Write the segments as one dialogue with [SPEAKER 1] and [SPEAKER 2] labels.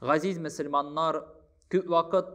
[SPEAKER 1] Газиз мөселманнар күп вакыт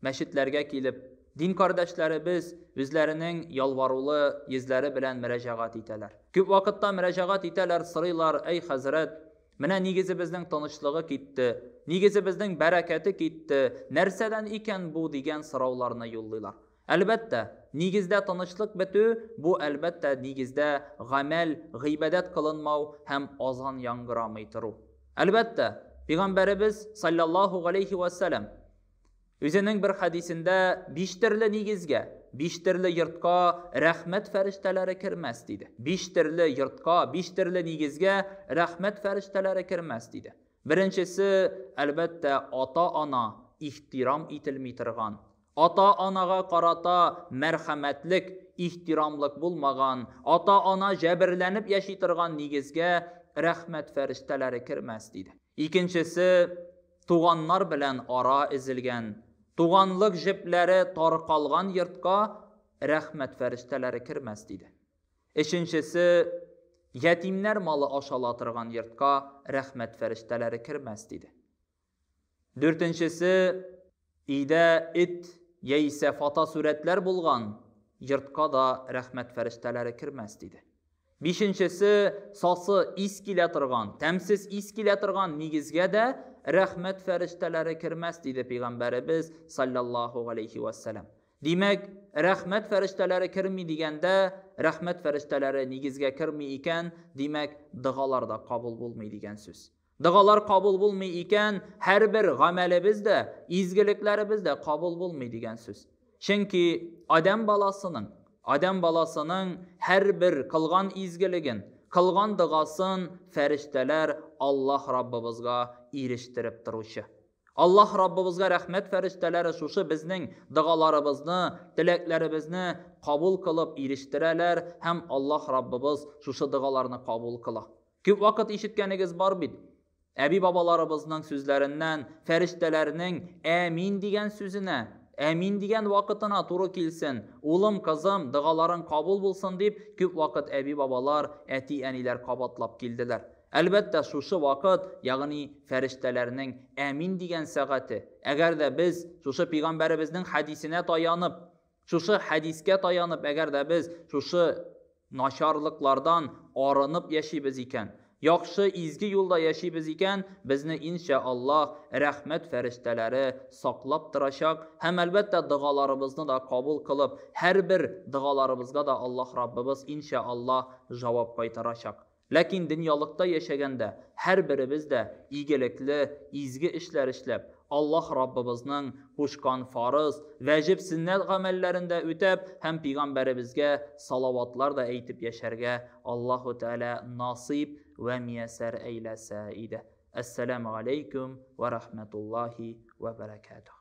[SPEAKER 1] мәчетләргә килеп, дин кардәшләребез үзләренең ялварулы йөзләре белән мөрәҗәгать итәләр. Күп вакытта мөрәҗәгать итәләр, сорыйлар, Әй хәзрәт, менә нигезебезнең тынычлыгы китте, нигезебезнең бәрәкәте китте, нәрсәдән икән бу дигән сорауларны юллыйлар. Әлбәттә, нигездә тынычлык бетү, бу әлбәттә нигездә гамәл, гыйбадәт кылынмау һәм азан яңгырамый тору. Әлбәттә, Пигамбәребез, салләллаһу галәйһи вә сәлам, үзенең бер хәдисендә биш терле нигезгә, биш терле йортка рәхмәт фәрештәләре кермәс, диде. Биш терле йортка, биш терле нигезгә рәхмәт фәрештәләре кермәс, диде. Беренчесе, әлбәттә, ата-ана ихтирам ителми торган, Ата-анага карата мәрхәмәтлек, ихтирамлык булмаган, ата-ана җәберләнеп яши торган нигезгә рәхмәт фәрештәләре кермәс, диде. Икенчесе, туганнар белән ара өзелгән, туганлык җепләре таркалган йортка рәхмәт фәрештәләре кермәс, диде. Өченчесе, ятимнәр малы ашала торган йортка рәхмәт фәрештәләре кермәс, диде. Дүртенчесе, өйдә эт яисә фотосурәтләр булган йортка да рәхмәт фәрештәләре кермәс, диде. Бишенчесе, сасы ис килә торган, тәмсез ис килә торган нигезгә дә рәхмәт фәрештәләре кермәс, диде пәйгамбәребез, салләллаһу галәйһи вә сәлам. Димәк, рәхмәт фәрештәләре керми дигәндә, рәхмәт фәрештәләре нигезгә керми икән, димәк, догалар да кабул булмый дигән сүз. Догалар кабул булмый икән, һәрбер гамәлебез дә, изгелекләребез дә кабул булмый дигән сүз. Чөнки Адәм баласының, Адәм баласының һәрбер кылган изгелеген, кылган догасын фәрештәләр Аллаһ Раббыбызга ирештереп торучы. Аллаһ Раббыбызга рәхмәт фәрештәләре шушы безнең догаларыбызны, теләкләребезне кабул кылып ирештерәләр һәм Аллаһ Раббыбыз шушы догаларны кабул кыла. Күп вакыт ишеткәнегез бар бит, әби-бабаларыбызның сүзләреннән, фәрештәләрнең Әмин дигән сүзенә, Әмин дигән вакытына туры килсен, улым, кызым, догаларың кабул булсын дип, күп вакыт әби-бабалар, әти-әниләр кабатлап килделәр. Әлбәттә, шушы вакыт, ягъни фәрештәләрнең Әмин дигән сәгате. Әгәр дә без, шушы пигамбәребезнең хәдисенә таянып, Шушы хәдискә таянып, әгәр дә без шушы начарлыклардан арынып яшибез икән, яхшы, изге юлда яшибез икән, безне, иншә Аллаһ, рәхмәт фәрештәләре саклап торачак һәм, әлбәттә, догаларыбызны да кабул кылып, һәрбер догаларыбызга да Аллаһ Раббыбыз, иншә Аллаһ, җавап кайтарачак. Ләкин дөньялыкта яшәгәндә һәрберебез дә игелекле, изге эшләр эшләп, Аллаһ Раббыбызның кушкан фарыз, вәҗеб, сөннәт гамәлләрен дә үтәп һәм пигамбәребезгә салаватлар да әйтеп яшәргә Аллаһу Тәгалә насыйп вә миясәр әйләсә иде. Әссәламү галәйкүм вә рәхмәтуллаһи вә бәрәкәтүһ.